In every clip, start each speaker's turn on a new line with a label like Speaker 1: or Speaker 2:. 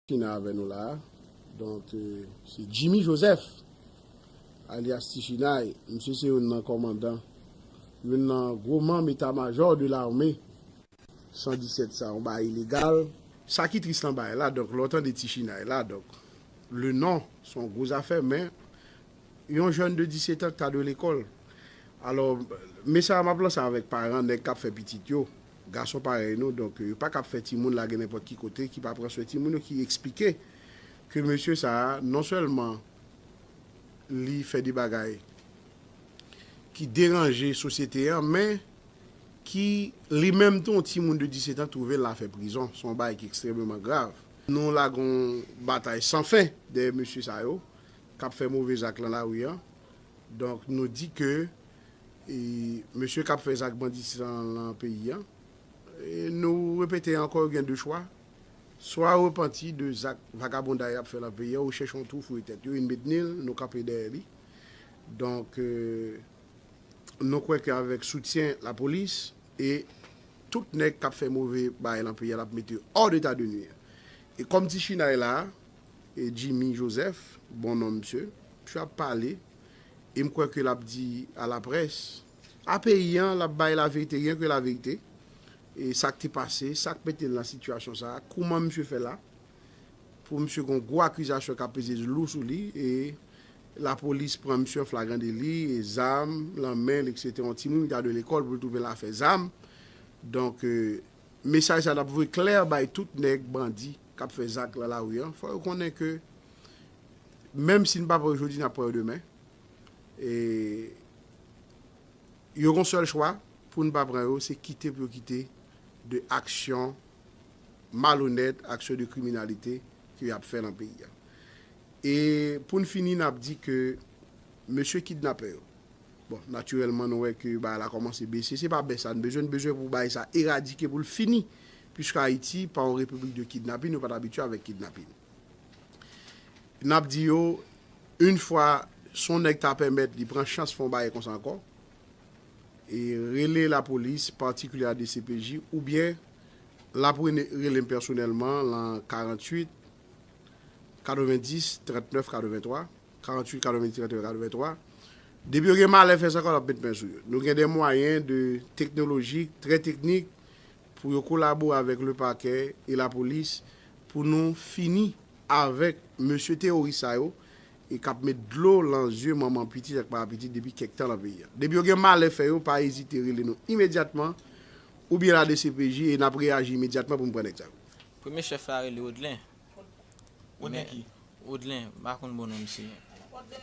Speaker 1: Kina avè nou la a. Donk se Jimmy Joseph alyas Ti Chinay. Misye se youn nan kòmandan, youn nan gwo manm eta majò de lame 117 sa. Yon bagay ilegal. Sa ki tris nan bagay la, donk lè w tande Ti Chinay la, donk le non se yon gwo zafè men Yon jèn de 17 ans ta dwe lekòl. Alò, mesaj map lanse avèk paran nèg kap fè pitit yo, gason parèy nou, donk yo pakab fè timoun lage nenpòt ki kote ki pa pran swen timoun yo ki eksplike ke mesye sa a non sèlman li fè de bagay ki deranje sosyete an men ki li menm tou yon timoun de 17 ans twouve l la fè prizon, son bagay ki ekstrememan grav. Nou lage yon batay san fen dèyè mesye sa yo, kap fè move zak lan lari an donk nou di ke mesye kap fè zak banditism lan peyi an nou repete ankò yo gen 2 chwa swa repanti de zak vagabonday yap fè lan peyi an ou chèche yon twou fouye tèt yo yn betnil nou kanpe dèyè li donk nou kwè ke avèk soutyen lapolis e tout nèg kap fè move bagay lan peyi an lap mete yo hors d'etat de nuire e kòm ti chinay la. E Jimmy Joseph, bon non msye. Msye ap pale, e m kwè ke l ap di a la près, a peyi an, l ap bay laverite, ryen ke laverite, e sa k te pase, sa k mete l nan sitiyasyon sa a, kouman msye fè la, pou msye gen yon gwo akizasyon k ap peze lou sou li, e lapolis pran msye an flagran deli, e zam lan men l, eksetera, yon timoun ki ta dwe lekòl pou l twouve l afè zam, donk. Mesaj sa tap voye klè bay tout nèg bandi kap fè zak lan lari an fò yo konnen ke menm si n pa pran yo jodi nap pran yo demen e yo gon sèl chwa pou n pa pran yo se kite pou yo kite de aksyon malonèt aksyon de kriminalite ke yap fè lan peyi a e pou n fini nap di ke mesye kidnapè yo. Bon, natirèlman nou wè ke bagay la kòmanse bese. Se pa bès sa n bezwen, n bezwen pou bagay sa eradike, pou l fini. Piske Ayiti pa yon repiblik de kidnapin, yo pa t abitye avèk kidnapin. N ap di yo, yn fwa si yon nèg ta pèmèt li pran chans fè yon bagay konsa ankò, e rele lapolis, patikilye a dcpj, oubyen l ap rene rele m pèsonèlman lan 48 90 39 83. 48 kado midi 31 kado 23 depi yo gen malè fè sa kò lap met men sou yo nou gen de mwayen de teknolojik trè teknik pou yo kolabore avèk le pakè e la polis pou nou fini avèk mesye teworis sa yo e kap met dlo lan zye manman pitit ak papa pitit depi kèk tan lan peyi a depi yo gen malè fè yo pa ezite rele nou imedyatman oubyen la dcpj e nap reyaji imedyatman pou nou pran nèg sa yo. Premye chèf la
Speaker 2: rele Odlin.
Speaker 3: Odelin, m pa
Speaker 2: konn bon non misye.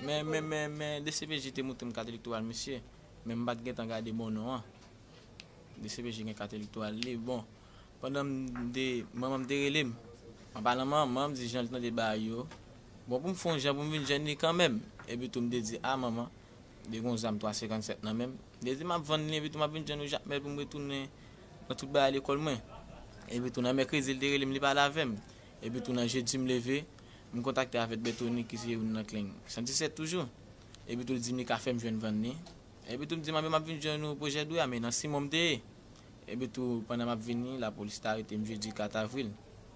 Speaker 2: Men dcpj te montre m kat elektoral misye, men m pa t gentan gade bon non an. Dcpj gen kat elektoral li. Bon, pandan m te, manman m te rele m. An palan manman m, di jan l tande ba yo. Bon, pou m fè yon jan pou m vin jwenn li kanmenm. Epi tou m te di, a manman, m te gen yon zam 357 nan men m. M te di m ap vann li epi tou m ap vin jwenn yon jakmèl pou m retounen. Nan tout bagay lekòl mwen. Epi tou nan mèkredi li te rele m li pale avè m. Epi tou nan jedi m leve, m kontakte avèk Bètoni ki se youn nan kling 117 toujou. Epi tou li di m li ka fè m jwenn van ni. Epi tou m di m anben m ap vin jwenn ou pwojè dwe a men nan Simon m te ye. Epi tou pandan m ap vini lapolis te arete m jedi 4 avril.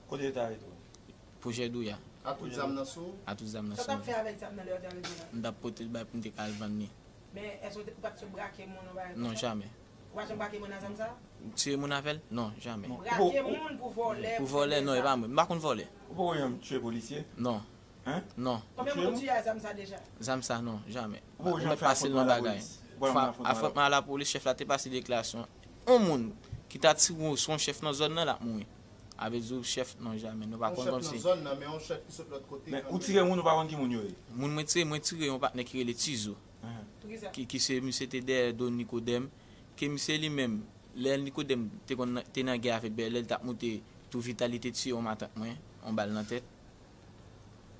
Speaker 2: Kote yo te arete w?
Speaker 3: Pwojè dwe a.
Speaker 2: A tout zam nan sou
Speaker 4: ou? A tout zam nan sou mwen. Sa w t ap fè
Speaker 2: avèk zam nan lè yo
Speaker 5: te arete w la? M t ap pote l bay
Speaker 2: pou m te ka al vann ni. Men èske ou
Speaker 5: pa t sot brake moun ou bagay konsa? Non jamè. Ou pa
Speaker 2: janm brake moun a
Speaker 5: zam sa? M tiye moun avè l?
Speaker 2: Non, jamè. M brake moun pou
Speaker 5: vòlè? Pou vòlè, non, e pa mwen. M
Speaker 2: pa konn vòlè. Ou poko janm tiye
Speaker 3: polisye? Non. Hein?
Speaker 2: Non.
Speaker 3: Konbyen moun ou
Speaker 2: tiye a zam sa
Speaker 5: deja? Zam sa, non, jamè.
Speaker 2: Ou poko janm fè afwontman alapolis?
Speaker 3: Ou pa janm
Speaker 2: fè afwontman alapolis? Afwontman alapolis, chèf la te pase deklarasyon. On moun ki ta ti wou son chèf nan zòn nan, l ap mouri. Avè di w chèf, non, jamè. Non, pa konn kòm si. On chèf nan zòn nan, men on chèf ki sot
Speaker 4: lòt kote. Men, ou tire moun ou pa konn ki
Speaker 3: moun yo ye? Moun mwen tiye, mwen tire
Speaker 2: yon patnè ki rele Tizo. ki se misye te dèyè do Nikodèm, ke misye li menm, lè Nikodèm te konn te nan gè avèk Bèlè, li t ap moute tou Vitali te tiye yon matant mwen, yon bal nan tèt.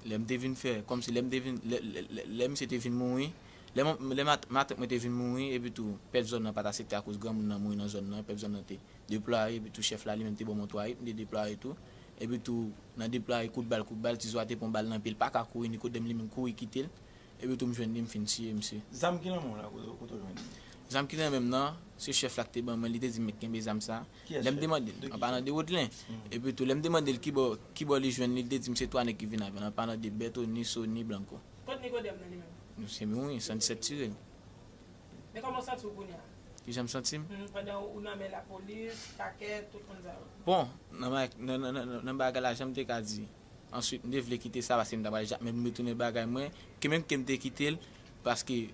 Speaker 2: Lè m te vin fè, kòmsi lè m te vin, lè misye te vin mouri, lè matant mwen te vin mouri, epitou pèp zòn nan pa t asepte akoz granmoun nan mouri nan zòn nan, pèp zòn nan te deplwaye, epitou chèf la li menm te ban mwen twa rit, m te deplwaye tou, epitou nan deplwaye kout bal kout bal, ti zo a te pran bal nan pye, li pa ka kouri, Nikodèm li menm kouri kite l, Epi tou
Speaker 3: m
Speaker 2: jwenn li m fin
Speaker 3: tiye
Speaker 2: misye. Zam ki
Speaker 3: nan
Speaker 2: menw la
Speaker 3: kote
Speaker 2: w jwenn li. Zam ki nan menm nan se chèf la ki te ban mwen li te dim met kenbe zam sa lèm demande l
Speaker 3: an palan
Speaker 2: de
Speaker 3: Woodlen
Speaker 2: epi tou lèm demande l kibò kibò li jwenn li li te dim se 3 nèg ki vin avèl an palan de Bertho ni Sony ni Blanco. Kot Nicodème
Speaker 5: nan li menm? Nou se
Speaker 2: menm wi 117 tire l. Men
Speaker 5: kòman w santi w kounye a? Kijan m santi m? Humm
Speaker 2: pandan ou nan men
Speaker 5: lapolis, pakè, tout moun sa yo. Bon
Speaker 2: nan bagay lajan m te ka di. Answit m te vle kite sa paske m ta pral ja men m retounen bagay mwen ke menm ke m te kite l paske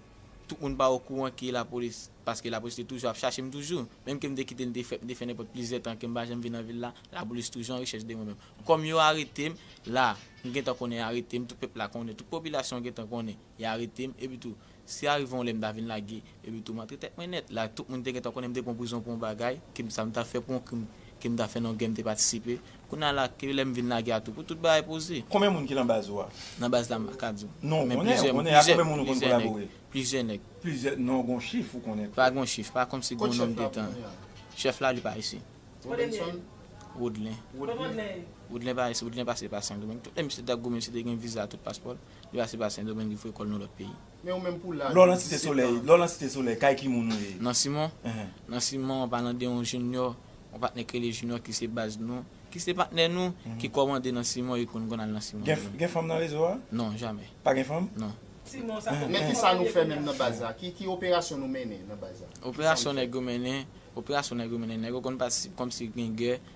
Speaker 2: tout moun pa okouran ke lapolis paske lapolis te toujou ap chache m toujou menm ke m te kite l m te fè m te fè nenpòt plizyè tan ke m pa janm vin nan vil la lapolis toujou an rechèch de mwen menm kòm yo arete m la m gentan konnen yo arete m tout pèp la konnen tout popilasyon an gentan konnen yo arete m epitou Si arive yon lè m ta vin lage epi tou montre tèt mwen nèt, la tout moun te gentan konnen m te pran prizon pou yon bagay, ke m sa m ta fè pou yon krim ke m ta fè nan yon gè m te patisipe. Kounye a la, ke lè m vin lage a tou pou tout bagay poze. Konbyen moun ki lan baz ou
Speaker 3: a? Nan baz la m pa ka di
Speaker 2: w. Non, ou konnen, ou konnen. A
Speaker 3: konbyen moun ou konn kolabore? Plizyè nèg. Plizyè,
Speaker 2: non gon
Speaker 3: chif ou konnen? Pa gon chif, pa kòmsi
Speaker 2: gon nonm de tan.
Speaker 4: Chèf
Speaker 2: la
Speaker 4: li pa isi.
Speaker 2: Robenson?
Speaker 4: Woodlen.
Speaker 2: Kot Woodlen ye? Woodlen pa isi, Woodlen pase pa Sendomeng. Tout lè misye t ap goumen misye te gen viza tout paspò l. Li pase pa Sendomeng li foure kò l nan lòt peyi. Men ou menm pou
Speaker 4: laj ou 17 tan. Lè w
Speaker 3: lan Site Solèy, kay ki moun ou ye? Nan Simon?
Speaker 2: Nan Simon, an palan de yon Jinyò, yon patnè k rele Jinyò ki se baz nou, ki se patnè nou, ki kòmande nan Simon e konn konn al nan Simon menm. Gen fanm nan rezo a?
Speaker 3: Non, jamè. Pa gen
Speaker 2: fanm? Non. Men ki
Speaker 5: sa nou fè menm
Speaker 4: nan baz la? Ki operasyon nou mennen nan baz la? Operasyon nèg yo mennen,
Speaker 2: operasyon nèg yo mennen, nèg yo konn patisipe kòmsi gen gè,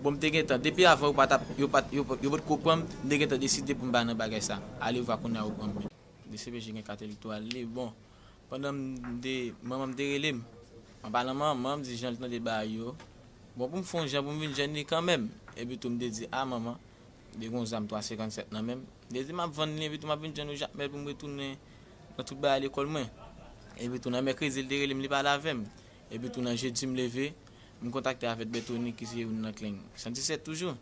Speaker 5: Bon m
Speaker 2: te gentan, depi avan yo pa tap, yo pat, yo, yo potko pran m, m te gentan deside pou m pa nan bagay sa. Alewvwa kounye a yo pran m men. Dcpj gen kat elektoral li. Bon, pandan m te, manman m te rele m. An palan manman, m di jan l tande bagay yo, bon pou m fon jan pou m vin jwenn li kanmenm. Epi tou m te di, a manman, m te gen yon zam 357 nan men m. M te di m ap vann li epi tou m ap vin jwenn yon Jakmèl pou m retounen nan tout bagay lekòl mwen. Epi tou nan mèkredi l te rele m li pale avè m. Epi tou nan jedi m leve. M kontakte avèk Bètoni ki se youn nan kleng 117 toujou.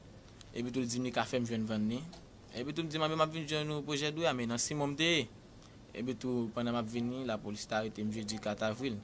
Speaker 2: Epitou l di m li ka fè m jwenn vann li. Epitou m di manmi m ap vin jwenn ou pwojè dwe a men nan Simon m te ye. Epitou pandan m ap vini, lapolis te arete m jedi 4 avril.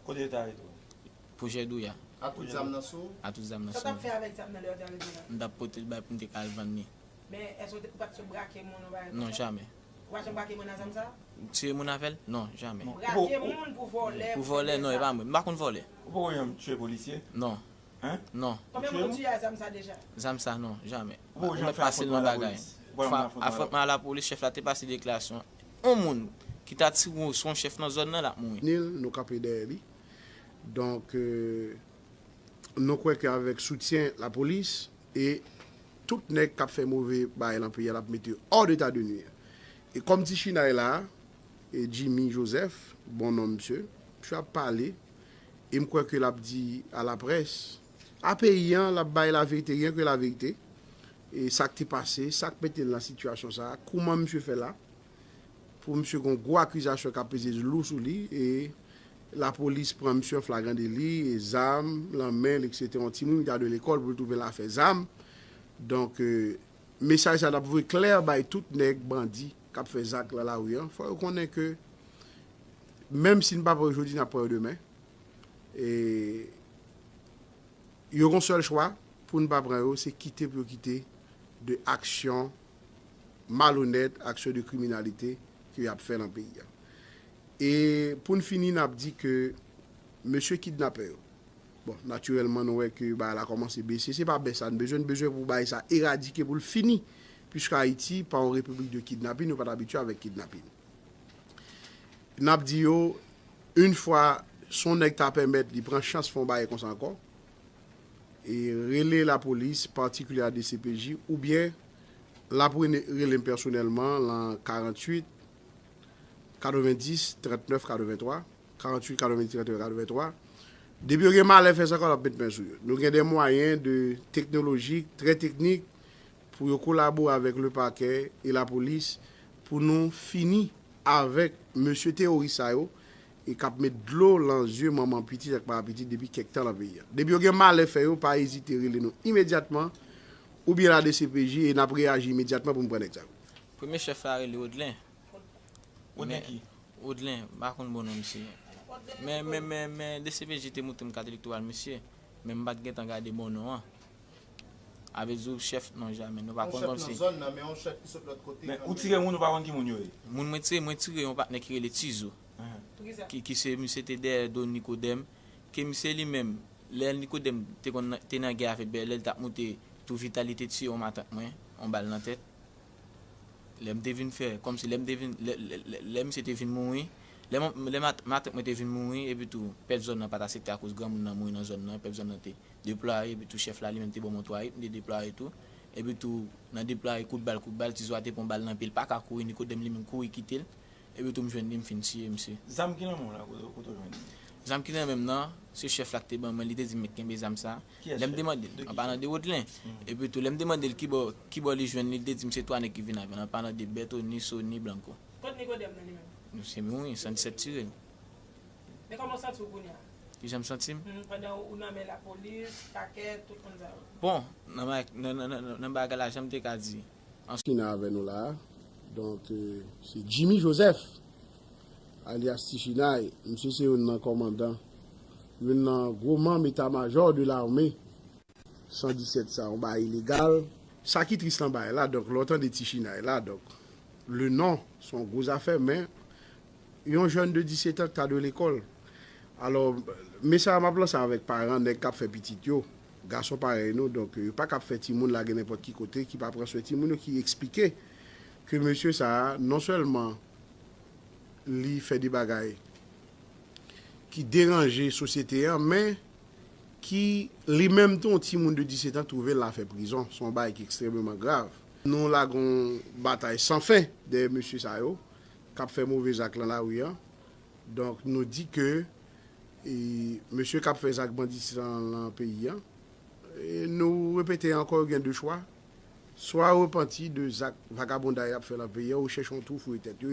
Speaker 2: Kote yo te arete
Speaker 3: w? Pwojè dwe a.
Speaker 2: A tout zam nan sou ou?
Speaker 4: A tout zam nan sou mwen. Sa w t ap fè
Speaker 2: avèk zam nan lè yo
Speaker 5: te arete w la? M t ap pote l bay pou m te ka
Speaker 2: al vann li. Men èske ou
Speaker 5: pa t sot brake moun ou pa yon bagay konsa? Non, jamè.
Speaker 2: Wap janm brake moun a
Speaker 5: zam sa? Tiye moun avèl?
Speaker 2: Non, jamè. Brake moun pou
Speaker 5: vòlè? Pou vòlè non e pa mwen. M
Speaker 2: pa konn vòlè. Ou poko janm tiye
Speaker 3: polisye? Non. Hein?
Speaker 2: Non.
Speaker 3: Konbyen moun ou
Speaker 2: tiye a zam
Speaker 5: sa deja? Zam sa non,
Speaker 2: jamè. Ou poko janm fè
Speaker 3: afwontman a lapolis? Fwa afwontman a lapolis chèf la te
Speaker 2: pase deklarasyon on moun ki ta ti gwo son chèf nan zòn nan lap mouri. Ni l, nou kanpe dèyè
Speaker 1: li. Donk nou kwè ke avèk soutyen lapolis e Tout nèg kap fè move bagay lan peyi a lap mete hors d'état de nuire. E kòm ti chinay la, Jimmy Joseph, bon nonm msye, msye ap pale e m kwè ke lap di a la près, a peyi an, lap bay la verite, rien que la vérité, e sak te pase, sak mete l nan sitiyasyon sa, kouman msye fè la. Pou misye gon gwo akizasyon kap peze lou sou li e lapolis pran misye an flagran deli e zam lan menl etc yon timoun ki ta dwe lekòl poul twouvel afè zam donk mesaj sa tap voye klè bay tout nèg bandi kap fè zak lan lari an fò yo konnen ke menm sin pa pran yo jodi nap pran yo demen e yo gon sèl chwa poun pa pran yo se kite pou yo kite de aksyon. malonèt, aksyon de kriminalite ke yap fè lan peyi a. E poun fini nap di ke mesye kidnapè yo, bon natirèlman nou wè ke bagay la kòmanse bese, se pa bès sa n bezwen, n bezwen pou bagay sa eradike pou l fini, puiske Ayiti pa yon repiblik de kidnapin, yo pat abitye avèk kidnapin. Nap di yo, yn fwa si yon nèg ta pèmèt li pran chans fè yon bagay konsa ankò, e rele lapolis patikilye a dcpj oubyen l ap rele m pèsonèlman lan 48 90 39 83 48 90 39 83 depi yo gen malè fè sa k yo l ap met men sou yo nou gen de mwayen de teknolojik trè teknik pou yo kolabore avèk le pakè e lapolis pou nou fini avèk mesye teworis sa yo e kap met dlo lan zye manman pitit ak papa pitit depi kèk tan lan peyi a. Depi yo gen malè fè yo pa ezite rele nou imedyatman oubyen la dcpj e nap reyaji imedyatman pou nou pran nèg sa yo. Premye chèf la
Speaker 2: rele Odlin.
Speaker 3: Odlin ki? Odlin, m pa
Speaker 2: konn bon non misye. Men men men men dcpj te montre m kat elektoral misye, men m pat gentan gade bon non an. Avèk zouv chèf non jamè nou pa konn kòm si.
Speaker 4: Men ou tire moun ou pa konn ki
Speaker 3: moun yo ye. Moun mwen tire mwen tire
Speaker 2: yon patnè ki rele Tizou. Ki se misye te dèyè do Nikodèm. Ke misye li menm lè Nikodèm te konn te nan gè avèk Bèlè li tap moute tou Vita li te tiye yon matant mwen yon bal nan tèt. Lè m te vin fè kòm si lè m te vin lè misye te vin mouri lè matant mwen te vin mouri epitou pèp zòn nan pat asepte akoz granmoun nan mouri nan zòn nan pèp zòn nan te Deplwaye, epi tou chèf la li menm te banm yon 3 ritm de deplwaye tou, epi tou nan deplwaye kout bal kout bal, ti zo a te pran yon bal nan pye li paka kouri ni kotem li menm kouri kitel, epi tou m jwenn li m fin tiye misye. Zam ki nan menw la kote
Speaker 3: kote w jwenn li? Zam ki nan menm
Speaker 2: nan se chèf la ki te ban mwen li te dim mèt kenbe zam sa, Kiyès lèm chèf? demande l, De ki an palan chèf? de Woodlen, epi tou lèm demande l kibò kibò li jwenn li, li te dim se 3 nèg ki vin avèl an palan de Bertho, Nisso ni Blanco. Kot Nicodème
Speaker 5: nan li menm? Misye mouri, san 17
Speaker 2: tirel. Men
Speaker 5: kòman w santi w kounye a? Ki jan m santi m? Hum,
Speaker 2: pandan ou nan men
Speaker 5: lapolis, pakè, tout moun sa yo.
Speaker 2: Bon, nan bagay la, jan m te ka di. Ki nan avè
Speaker 1: nou la a. Donk, se Jimmy Joseph, alyas Ti Chinay. Misye se youn nan kòmandan, youn nan gwo manm etamajò de lame. 117 sa yon bagay ilegal. Sa ki tris nan bagay la donk lè w tande ti chinay la donk le non se yon gwo zafè men yon jèn de 17 an ki ta dwe lekòl alò mesaj la m ap lanse avèk paran nèg k ap fè pitit yo gason parèy nou donk yo paka ap fè timoun lage nenpòt ki kote ki pa pran swen timoun yo ki eksplike ke mesye sa a non sèlman li fè de bagay ki deranje sosyete an men. ki li menm tou yon timoun de 17 an twouve l afè prizon, s on bagay ki ekstrememan grav. Nou lage yon batay san fen dèyè mesye sa yo k ap fè move zak lan lari an, donk nou di ke mesye k ap fè zak banditis lan lan peyi an, nou repete ankò yo gen de chwa, swa yo repanti de zak vagabonday y ap fè lan peyi an ou chèche yon twou fouye tèt yo.